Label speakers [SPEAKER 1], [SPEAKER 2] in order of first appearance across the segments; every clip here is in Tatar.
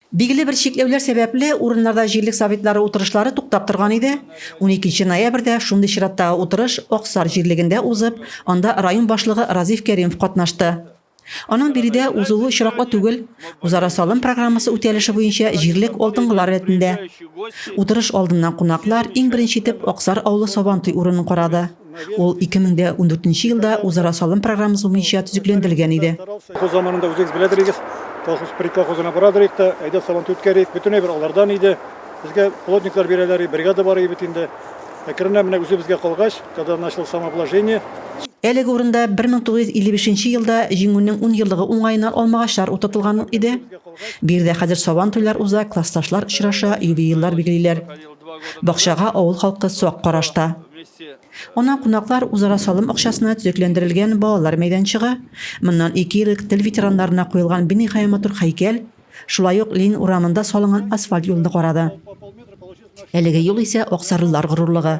[SPEAKER 1] Билгеле бер чикләүләр сәбәпле, урыннарда җирлек советлары утырышлары туктап торган иде. Уникенче ноябрьдә шундый чираттагы утырыш Аксар җирлегендә узып, анда район башлыгы Разиф Кәримов катнашты. Аның биредә узуы очраклы түгел, үзара салым программасы үтәлеше буенча җирлек алдынгылар рәтендә. Утырыш алдыннан кунаклар иң беренче итеп Аксар авылы Сабантуй урынын карады. Ул 2014 елда Үзара салым программасы буенча төзекләндерелгән иде. Бу заманында үзегез
[SPEAKER 2] беләдерегез, колхоз предка хозына барадырыйк та, әйдә сабантуй үткәрик, бөтен әйбер алардан иде. Безгә плотниклар бирәләр и бригада бар и бит инде. Әкренләп менә үзебезгә калгач, когда начал самовложение, Әлеге урында
[SPEAKER 1] 1955 елда Җиңүнең ун еллыгы уңаена алмагачлар утыртылган иде. Бу йирдә хәзер сабан туйлар уза, классташлар очраша, юбиилар билгелиләр. Бакчага авыл халкы сак караш та. Ана кунаклар үзара салым акчасына төзекләндерелгән балалар мәйданчыгы, моннан ике ел элек тел ветераннарына куелган биниһая матур һәйкәл, шулай ук Ленин урамында салынган асфальт юлны карады. Әлеге юл исә аксарлылар горурлыгы.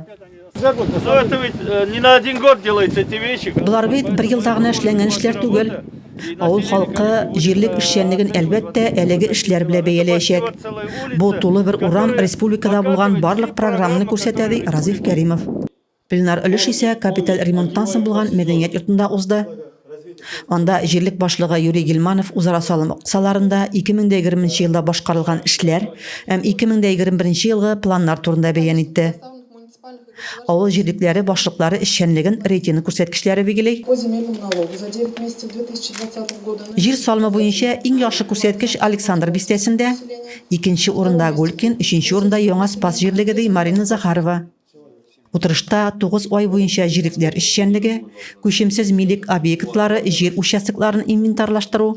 [SPEAKER 2] Болар бит бер елда
[SPEAKER 1] гына эшләнгән эшләр түгел. Авыл халкы җирлек эшчәнлеген, әлбәттә, әлеге эшләр белән бәяләячәк. Бу тулы бер урам республикада булган барлык программаны күрсәтә, ди Разиф Кәримов. Пленар өлеш исә капиталь ремонттан соң булган мәдәният йортында узды. Анда җирлек башлыгы Юрий Гильманов үзара салым кысаларында 2020 елда башкарылган эшләр һәм 2021 елгы планнар турында бәян итте. Авыл җирлекләре башлыклары эшчәнлеген рейтинг күрсәткечләре бигели.
[SPEAKER 3] Җир салымы буенча
[SPEAKER 1] иң яхшы күрсәткеч Александр бистәсендә, икенче урында Гулькин, өченче урында Яңа Спас җирлеге, ди Марина Захарова. Утырышта 9 ай буенча җирекләр эшчәнлеге, күчемсез милек объектлары, җир участокларын инвентарьлаштыру,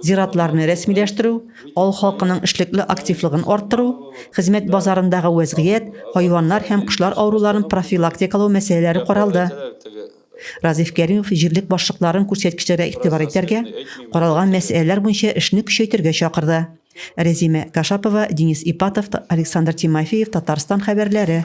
[SPEAKER 1] зиратларны рәсмиләштерү, авыл халкының эшлекле активлыгын арттыру, хезмәт базарындагы вәзгыять, хайваннар һәм кошлар авыруларын профилактикалау мәсьәләләре каралды. Разиф Кәримов җирлек башлыкларын күрсәткечләргә игътибар итәргә, каралган мәсьәләләр буенча эшне көчәйтергә чакырды. Рәзимә Кашапова, Денис Ипатов, Александр Тимофеев, Татарстан хәбәрләре.